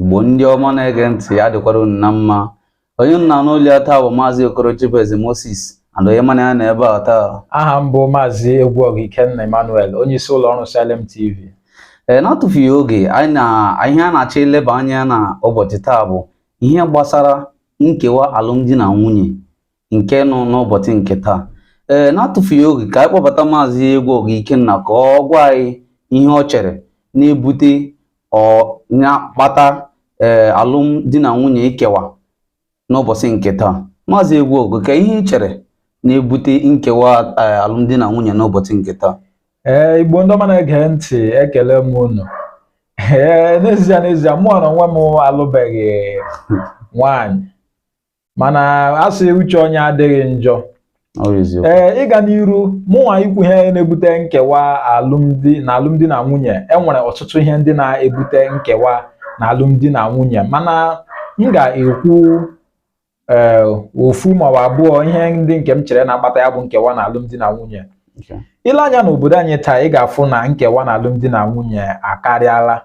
Igbo ndị ọma na-ege ntị ya dịkwara unu na mma onye unu na-anụ olu ya taa bụ maazị Okoro Chibueze Moses and onye mụ na ya nọ ebe a taa aha m bụ maazị Egwuọgụ Ikenna Emmanuel onye isi ụlọ ọrụ Salem TV ee n'atụfughị oge ihe a na-achọ ileba anya na ụbọchị taa bụ ihe gbasara nkewa alụmdi na nwunye nke nọ n'ụbọchị nke taa ee na-atụfughị oge ka anyị kpọbata maazị Egwuọgụ Ikenna ka ọ gwa anyị ihe ọ chere na-ebute or na-akpata ee alụmdi na nwunye ikewa n'ụbọchị nke taa maazị Egwuọgụ ka ihe ị chere na-ebute nkewa alụmdi na nwunye n'ụbọchị nke taa ee igbo ndị ọma na-ege ntị ekele m unu ee n'ezie n'ezie mụwa na onwe m alụbeghị nwaanyị mana asị uche onye adịghị njọ ee ịga n'iru mụnwa ikwu ihe na-ebute nkewa alụmdi na alụmdi na nwunye enwere ọtụtụ ihe ndị na-ebute nkewa na alụmdi na nwunye mana m ga-ekwu ee eh, ofu maọbụ abụọ ihe ndị nke m chere na-akpata ya bụ nkewa na alụmdi na nwunye ile anya n'obodo anyị taa ị ga-afụ na nkewa na alụmdi na nwunye akarịala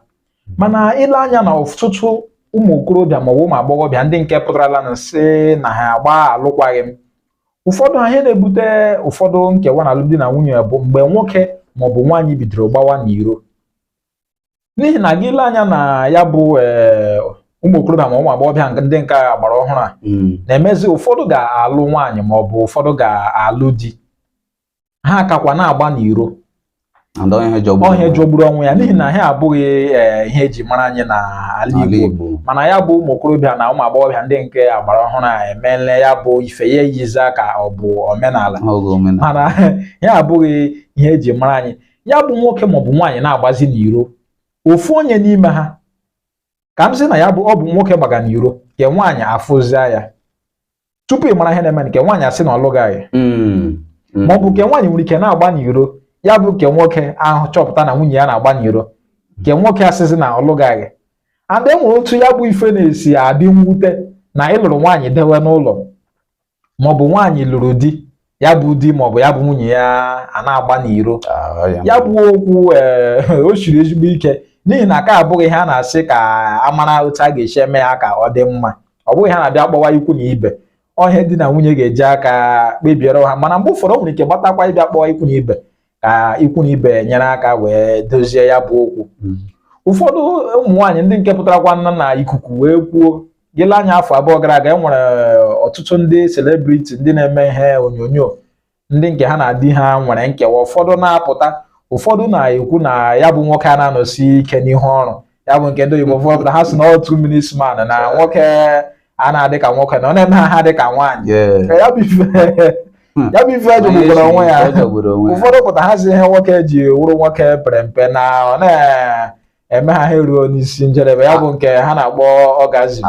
mana ile anya na ọtụtụ ụmụ okorobịa maọbụ ụmụ agbọghọbịa ndị nke pụtarala na-asị na ha agbaa alụkwaghị m ụfọdụ ha ihe na-ebute ụfọdụ nkewa na alụmdi na nwunye bụ mgbe nwoke maọbụ nwaanyị bidoro gbawa n'iro n'ihi na gị lee anya na ya bụ eh, ụmụ okorobịa ma ụmụ agbọghọbịa ndị nke agbara ọhụrụ a hmm. na-emezi ụfọdụ ga-alụ nwaanyị maọbụ ụfọdụ ga-alụ di ha akakwa na-agba n'iro ọ ihe jọgburu onwe ya n'ihi na ihe a abụghị eh, ihe eji mara anyị n'ala Igbo mana ya bụ ụmụ okorobịa na ụmụ agbọghọbịa ndị nke agbara ọhụrụ a emeela ya bụ ife ya eyizia ka ọ bụ omenala mana ya abụghị ihe eji mara anyị ya bụ nwoke maọbụ nwaanyị na-agbazi n'iro ofu onye n'ime ha ka m sị na ya bụ ọ bụ nwoke gbaga n'iro nke nwaanyị afụzia ya tupu ị mara ihe na-eme nke nwaanyị asị na ọ lụgaghị hmm. hmm. ma ọ bụ nke nwaanyị nwere ike na-agba n'iro ya bụ nke nwoke ahụ chọpụta na nwunye ya na-agba n'iro nke nwoke asịzi na ọ lụgaghị and enwere otu ya bụ ife na-esi adị mwute na ịlụrụ nwaanyị dewe n'ụlọ maọbụ nwaanyị lụrụ di ya bụ di maọbụ ya bụ nwunye ya ana-agba n'iro Ah, ya- ya bụ okwu ee, o siri ezigbo ike n'ihi na nke a abụghị ihe a na-asị ka a mara otu a ga-esi eme ya ka ọ dị mma ọ bụghị ihe a na-abịa kpọwa ikwu na ibe ọ ihe di na nwunye ga-eji aka kpebiere onwe ha mana mgbe ụfọdụ o nwere ike gbatakwa ịbịa kpọwa ikwu na ibe ka ikwu na ibe nyere aka wee dozie ya bụ okwu hmm. ụfọdụ ụmụ nwaanyị ndị nke pụtarakwanụ na ikuku wee kwuo gị lee anya afọ abụọ gara aga e nwere ọtụtụ ndị celebrity ndị na-eme ihe onyonyo ndị nke ha na di ha nwere nkewa ụfọdụ na-apụta ụfọdụ na-ekwu na ya bụ nwoke a na-anọsi ike n'ihu ọrụ ya bụ nke ndị Igbo ụfọdụ pụta ha si na ọ two minutes man na nwoke a na-adị ka nwoke na ọ na-eme ha dị ka nwaanyị ya bụ ife hmm. jọgburu onwe ya ụfọdụ pụta ha si ihe nwoke ji wụrụ nwoke pere mpe na ọ na-eme ha ha eruo n'isi njedebe ya bụ nke ha na-akpọ orgasm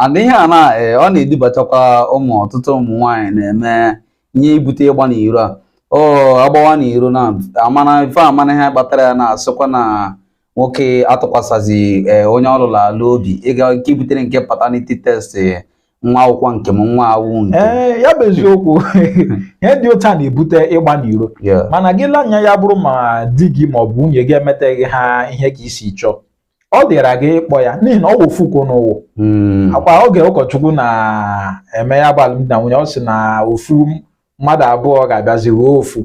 and ihe a na eh, ọ na-edubatakwa ụmụ ọtụtụ ụmụ nwaanyị na-eme ihe ibute ịgba n'iro a ọ agbawa na iro na amana ife amana ihe kpatara ya na-asịkwa na nwoke atụkwasịzi eh, onye ọ lụrụ alụ obi ịga nke butere nke paternity test eh, nwa awụkwa nke m nwa awụ nke ee eh, ya bụ eziokwu ihe dị otu a na-ebute ịgba n'iro mana gị lee anya ya bụrụ ma di gị ma ọ bụ nwunye gị emeteghị ha ihe ka i si chọọ ọ dịra gị ịkpọ ya n'ihi na ọ wụ ofu ka unu wụ hmm. ọ kwa oge ụkọchukwu na-eme ya bụ alụmdi na nwunye ọ sị na ofu mmadụ abụọ ga-abịazi wụrụ ofu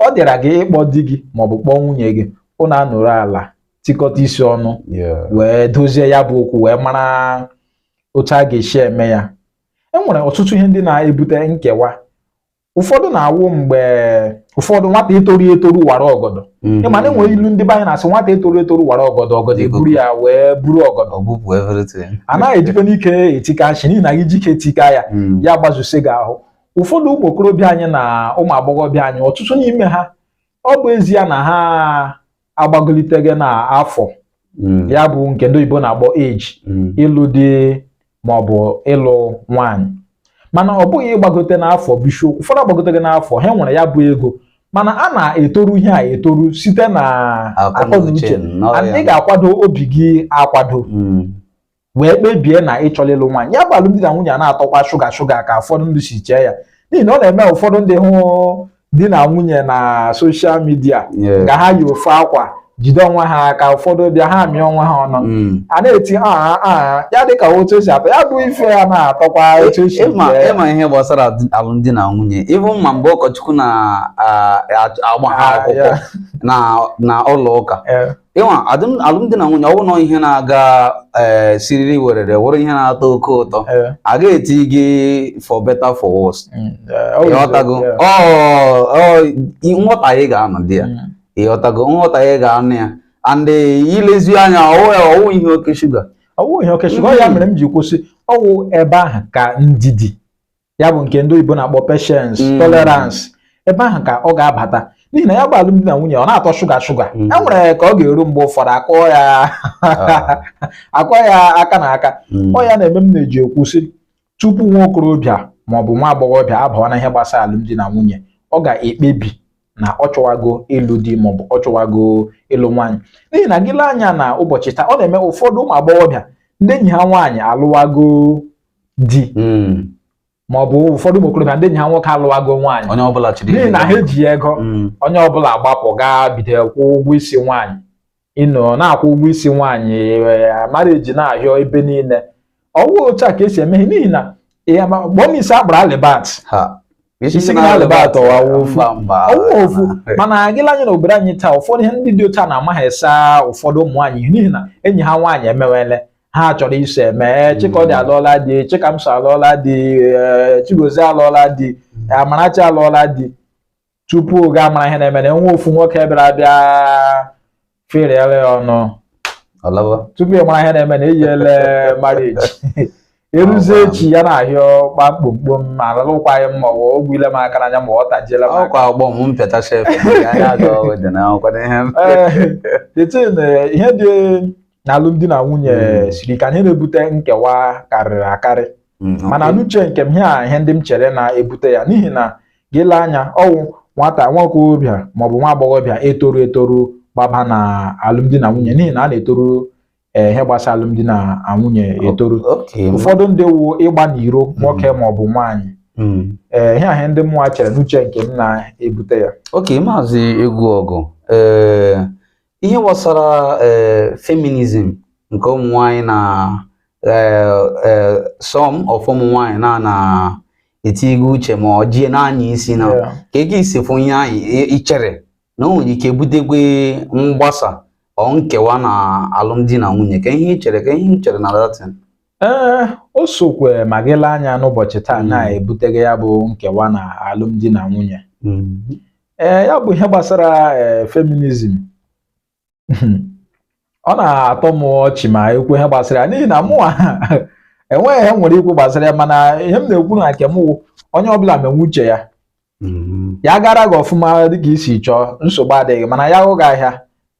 ọ dịra gị ịkpọ di gị maọbụ kpọọ nwunye gị ụnụ anọrọ ala tikọta isi ọnụ wee dozie ya bụ okwu wee mara otu a ga-esi eme ya e nwere ọtụtụ ihe ndị na-ebute nkewa ụfọdụ na-awụ mgbe ụfọdụ nwata etoru etoru wara ọgọdọ mm-hmm. ị ma na e nwere ilu ndị be anyị na-asị nwata etoru etoru wara ọgọdọ ọgọdọ eburu ya wee buru ọgọdọ anaghị ejikwa n'ike etika nshi n'ihi na gị jike tika ya mm. ya gbazusi gị ahụ ụfọdụ ụmụ okorobịa anyị na ụmụ agbọghọbịa anyị ọtụtụ n'ime ha ọ bụ ezie na ha agbagolitego n'afọ mm. ya bụ nke ndị oyibo na-akpọ age mm. ịlụ di ma ọ bụ ịlụ nwaanyị mana ọ bụghị ịgbagote n'afọ bụ isiokwu ụfọdụ agbagotego n'afọ ha nwere ya bụ ego mana a na-etoru ihe a etoru site na akọnuche ị ga-akwado obi gị akwado mm. wee kpebie na ị chọrọ ịlụ nwaanyị ya bụ alụmdi na nwunye a na-atọkwa shuga shuga ka ụfọdụ ndị si chee ya n'ihi na ọ na-eme ụfọdụ ndị hụ di na nwunye na social media ka ha yi ofu akwa jide onwe ha aka ụfọdụ bịa ha amịa onwe ha ọnụ mm. a na-eti aa ah, ah, ah, ya dị ka otu o si atọ ya bụ ife ya na-atọkwa otu o si ị ma ihe gbasara alụmdi na nwunye even ma mgbe ụkọchukwu na-agba ha akwụkwọ na ụlọ ụka ịnwa alụmdi na nwunye ọ wụ nnọọ ihe na-aga ee eh, siriri werere wụrụ ihe na-atọ oke ụtọ eh. a ga-etinye for better for worse mm, eh, ị ghọtago nghọtahie ga-anọ dị ya mm. ị ghọtago nghọtahie ga-anọ ya and i lezie anya ọ wụ ihe oke shuga ọ wụ ihe oke shuga ya mere m ji kwuo sị ọ wụ ebe ahụ ka ndidi ya bụ nke ndị oyibo na-akpọ patience mm. tolerance ebe ahụ ka ọ ga-abata n'ihi na ya bụ alụmdi na nwunye ọ na-atọ shuga shuga e nwere ka ọ ga-eru mgbe ụfọdụ akụọ ya ah. akụọ ya aka na aka mm. ọ ya na-eme m na-eji ekwu sị tupu nwa okorobịa ma ọ bụ nwa agbọghọbịa abawa na ihe gbasara alụmdi na nwunye ọ ga-ekpebi na ọ chọwago ịlụ di maọbụ ọ chọwago ịlụ nwaanyị n'ihi na gị lee anya na ụbọchị taa ọ na-eme ụfọdụ ụmụ agbọghọbịa ndị enyi ha nwaanyị alụwago di hmm. ma ọ bụ ụfọdụ ụmụ okorobịa ndị enyi ha nwoke alụwago nwaanyị n'ihi na ha eji ego hmm. onye ọbụla agbapụ gaa bido kwụ ụgwọ isi nwaanyị ịnọ na-akwụ ụgwọ isi nwaanyị eh, marriage na-ahịọ ebe niile ọwụ otu a ka esi eme n'ihi na gbọọ m isi akpara alibat isi na alibat ọwụ ofu mana gị lee anya na obodo anyị taa ụfọdụ ihe ndị dị otu a na-amaghị esa ụfọdụ ụmụ nwaanyị n'ihi na enyi ha nwaanyị emewele ha chọrọ iso eme eh, chikọdị hmm. alụọla di chikamso alụọla di eh, chigozie alụọla di hmm. eh, amarachi alụọla di tupu ị ga-amara ihe na-eme na enwe ofu nwoke bịara bịa feriere ya ọnụ tupu ị mara ihe na-eme na eyele marriage eruzie echi ya na-ahịọ kpa mkpomkpom ma alụkwaghị m ma ọ bụ ile m aka n'anya ma ọ tajiela m ọkwa ọgbọ m mpịata shef ihe dị na alụmdi na nwunye hmm. siri ike ihe na-ebute nkewa karịrị akarị hmm, mana n'uche nke m ha ihe ndị m chere na-ebute ya n'ihi na gị lee anya ọwụ nwata nwa okorobịa maọbụ nwa agbọghọbịa etoru etoru gbaba na alụmdi na nwunye n'ihi na a na-etoru eh, ihe gbasara alụmdi na nwunye etoru ụfọdụ ndị wu ịgba n'iro hmm. nwoke maọbụ nwaanyị ee eh, ihe ahụ ndị mụnwa chere n'uche nke m na-ebute ya oke maazị egwuọgụ ee eh, ihe gbasara eh, feminism nke ụmụ nwanyị na eh, eh, some of ụmụ nwanyị na na etigo uche ma ọ jie n'anya isi na Yeah. ka gị si fụ ihe anyị i- ichere na o nwere ike butekwe mgbasa or nkewa na alụmdi na nwunye kee ihe ichere kee ihe ichere na datin ee o sokwe ma gị lee anya n'ụbọchị taa Mm. na-ebuteghe ya bụ nkewa na alụmdi na nwunye ee ya bụ ihe gbasara ee feminism ọ na-atọ m ọchị ma ekwu ihe gbasara ya n'ihi na mụnwa enweghị ihe m nwere ikwu gbasara ya mana ihe m na-ekwu na nke m wụ onye ọbụla menwe uche ya mm-hmm. ya gara gị ọfụma dịka i si chọọ nsogbu adịghị mana ya hụ gị ahịa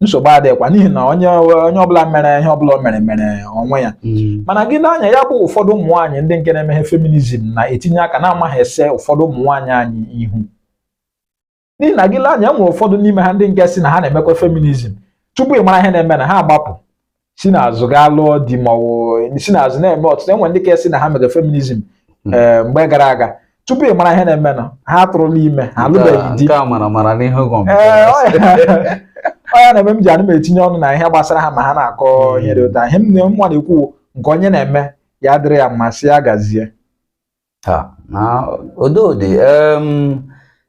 nsogbu adịghịkwa n'ihi na onye onye ọbụla mere ihe ọbụla o mere mere onwe ya mm-hmm. mana gị lee anya ya bụ ụfọdụ ụmụ nwaanyị ndị nke na-emeghe feminism na-etinye aka na-amaghị ese ụfọdụ ụmụ nwaanyị anyị ihu n'ihi na gị lee anya e nwere ụfọdụ n'ime ha ndị nke sị na ha na-emekwa feminism tupu ị mara ihe na-eme na ha agbapụ si n'azụ gaa lụọ di ma ọ bụ si n'azụ na-eme ọtụtụ enwe ndị ka sị na ha mere feminism hmm. eh, mgbe gara aga tupu ị mara ihe na-eme na ha atụrụla ime ha alụbeghị di ọ ya na-eme m ji anụ m etinye ọnụ na ihe gbasara ha ma ha na-akọ hmm. ihe dị otu a ihe m nwa na-ekwu nke onye na-eme ya dịrị ya mma sị ya gazie ha na ododi em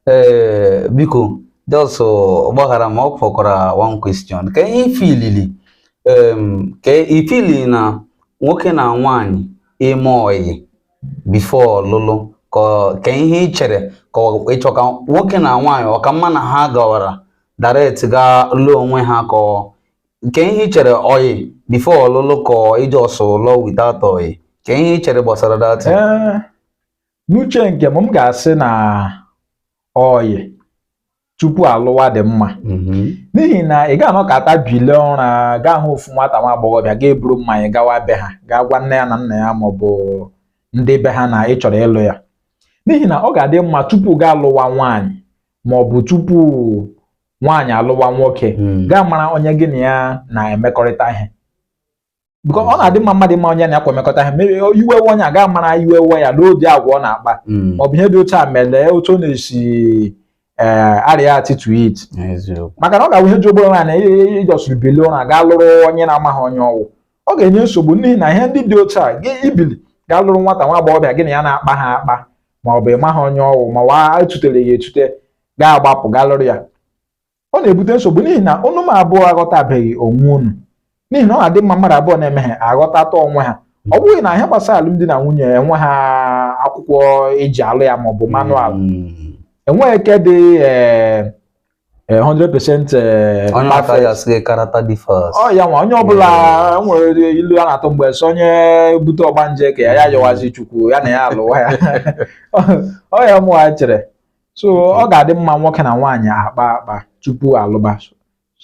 ee biko just gbaghara m ọ fọkwara one question kee ihe i feelili em ka i feeli na nwoke na nwaanyị ime ọyị before ọlụlụ ka kee ihe ị chere ka ọ- ịchọ ka nwoke na nwaanyị ọ ka mma na ha gawara direct gaa lụọ onwe ha ka ọ- kee ihe i chere ọyị before ọlụlụ ka ị just lụọ without ọyị kee ihe i chere gbasara that Ee, n'uche nke m m ga-asị na ọyị tupu alụwa dị mma n'ihi na ị ga-anọkata bilie ụra gaa hụ ofu nwata nwa agbọghọbịa ga-eburu mmanya gawa be ha gaa gwa nne ya na nna ya ma ọ bụ ndị be ha na ị chọrọ ịlụ ya n'ihi na ọ ga-adị mma tupu gaa alụwa nwaanyị ma ọ bụ tupu nwaanyị alụwa nwoke hmm. gaa mara onye gị na ya na-emekọrịta ihe because ọ na-adị mma mmadụ ịma onye na ya kwa emekọta ihe mere iwe we onye a gaa mara iwe we ya n'obi agwa ọ na-akpa hmm. ọ bụ ihe dị otu a mara otu ọ na-esi Eh, areact to it maka na ọ ga-awụ ihe jọgburu na ị just bilie ụra gaa lụrụ onye na-amaghị onye ọ wụ ọ ga-enye nsogbu n'ihi na ihe ndị dị otu a gị ibili gaa lụrụ nwata nwa agbọghọbịa gị na ya na-akpaha akpa ma ọ bụ ị maghị onye ọ wụ ma ọ wụ e tutere ya etute gaa gbapụ gaa lụrụ ya ọ na-ebute nsogbu n'ihi na unu m abụọ aghọtabeghị onwe unu n'ihi na ọ na-adị mma mmadụ abụọ na-eme ihe aghọtata onwe ha ọ bụghị na ihe gbasara alụmdi na nwunye enweha akwụkwọ e ji alụ ya maọbụ manual hmm. enweghị nke dị 100% eh, eh, ọ ya nwa onye ọbụla hmm. nwere ilu a na-atụ mgbe so onye bute ọgbanje ka ya ya yọwazi chukwu ya na ya alụwa ya ọ ya mụwa chere so ọ ga-adị mma nwoke na nwaanyị akpa akpa tupu alụba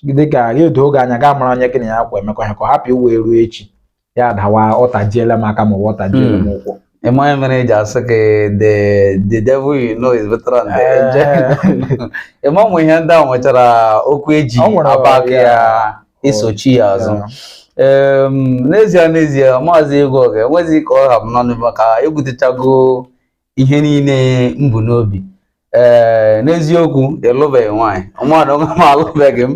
di ka ya edo gị anya gaa mara onye gị na ya kwa emekọ ihe ka ọ hapụ ịwụ e ruo echi ya dawa ọ tajiela m aka ma ọ ọ tajiela m hmm. ụkwụ ihe mere e ji asị gị the the devil you know is better than the angel. Ị ma ụmụ ihe ndị ahụ nwechara okwu e ji aback ya isochi ya azụ. N'ezie n'ezie maazị Egwu Oge enweghịzi ka ọ hapụ n'ọnụ maka ebutechago ihe niile m bu n'obi ee n'eziokwu ịlụbeghị nwaanyị mụnwa alụbeghị m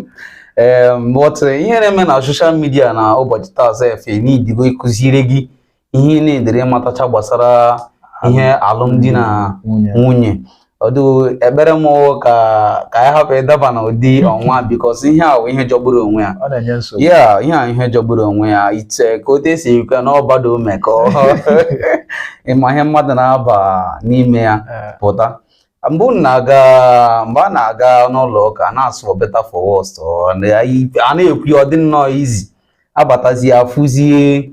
ee but ihe na-eme na social media na ụbọchị taa sef needigo ịkụziri gị ihe ị neediri ịmatacha gbasara ihe alụmdi na nwunye ọdụ ekpere m wụ ka ka anyị hapụ ịdaba na ụdị ọnwa because ihe a wụ ihe jọgburu onwe ya ọ na-enye nsogbu ya ihe a ihe jọgburu onwe ya ite ka otu esi ekwe na ọbado mekọ ị maghị ihe mmadụ na-aba n'ime ya eh. but mgbe unu na-aga mgbe a na-aga n'ụlọ ụka a na-asụ better for worst a na-ekwu ọ dị nnọọ easy a batazie a fụzie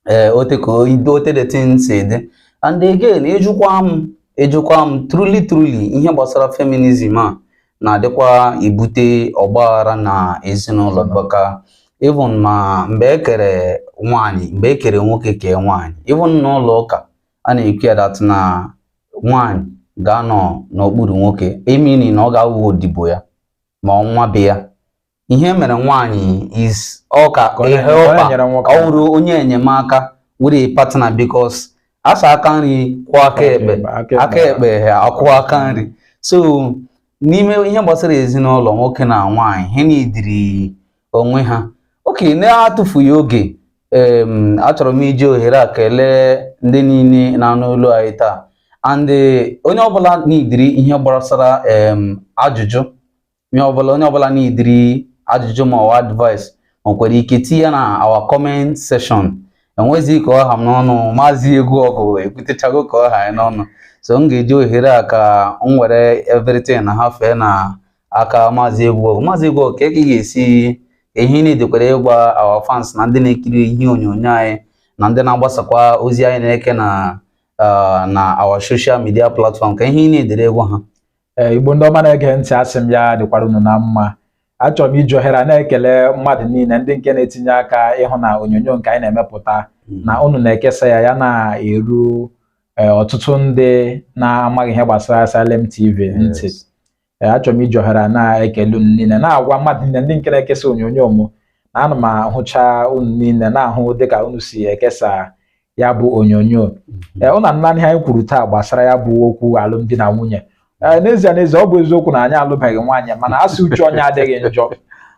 eh, ote ka ote the thing si dị and again ị jụkwa m ị jụkwa m truly truly ihe gbasara feminism a na-adịkwa ebute ọgbaghara na ezinụlọ because even ma mgbe e kere nwaanyị mgbe e kere nwoke kee nwaanyị even n'ụlọ ụka a na-ekwu ya that na nwaanyị ga-anọ n'okpuru nwoke emini na ọ ga-awụ odibo ya ma ọnwa be ya ihe e mere nwaanyị is ọ ka ọ wụrụ onye enyemaka wụrụ partner because a sị aka nri kwụọ aka ekpe aka ekpe akwụọ aka nri so n'ime ihe gbasara ezinụlọ nwoke na nwaanyị ha neediri onwe ha okay na-atụfughị oge achọrọ m iji ohere a kelee ndị niile na-anụ olu anyị taa and eh, onye ọbụla neediri ihe gbasara ajụjụ onye ọbụla onye ọbụla neediri ajụjụ ma ọwa advice nwekwara ike tinye na our comment section enwezighị ka ọ ha m n'ọnụ maazị egwu ọgụ ekwutechago ka ọ ha anyị n'ọnụ so m ga-eji ohere a ka m were everything na-ahafe na aka maazị egwu ọgụ maazị egwu ọgụ ka ị ga-esi ihe ị needikwara ịgwa our fans na ndị na-ekiri ihe onyonyo anyị na ndị na-agbasakwa ozi anyị na-eke na ah, na our social media platform ka ihe ị neediri ịgwa ha ee Igbo ndị ọma na-ege ntị asị m ya dịkwara unu na mma achọrọ m iji ohere a na-ekele mmadụ niile ndị nke na-etinye aka ịhụ na onyonyo nke anyị na-emepụta hmm. na unu na-ekesa ya ya na-eru e, ọtụtụ ndị na-amaghị ihe gbasara Salem TV ntị e, achọrọ m iji ohere a na-ekele unu niile na-agwa mmadụ niile ndị nke na-ekesa onyonyo m na ana m ahụcha unu niile na-ahụ dịka unu si ekesa ya bụ onyonyo mhm. eh, unu anụla ihe anyị kwuru taa gbasara ya bụ okwu alụmdi na nwunye eh, n'ezie n'ezie ọ bụ eziokwu na anyị alụbeghị nwaanyị mana a sị uche onye adịghị njọ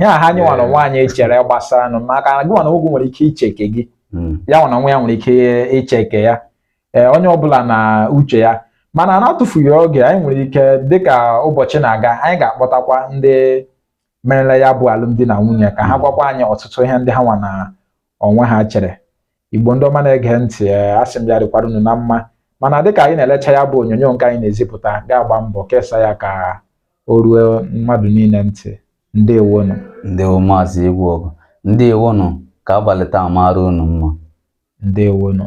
ihe a ha anyị nwa na onwe anyị chere gbasara nụ maka na gị nwa na onwe gị nwere ike iche nke gị hmm. ya nwa na onwe ya nwere ike iche nke ya ee eh, onye ọbụla na uche ya mana na-atụfughị oge anyị nwere ike dịka ụbọchị na-aga anyị ga-akpọtakwa ndị merela ya bụ alụmdi na nwunye ka ha hmm. gwakwa anyị ọtụtụ ihe ndị ha nwa na onwe ha chere igbo ndị ọma na-ege ntị eh, asị m ya dịkwara unu na mma mana dịka anyị na-elecha ya bụ onyonyo nke anyị na-ezipụta gị agba mbọ kesa ya ka o ruo mmadụ niile ntị ndewonụ ndewo maazị egwu ọgụ ndewonụ ka abalị taa mara unu mma ndewonụ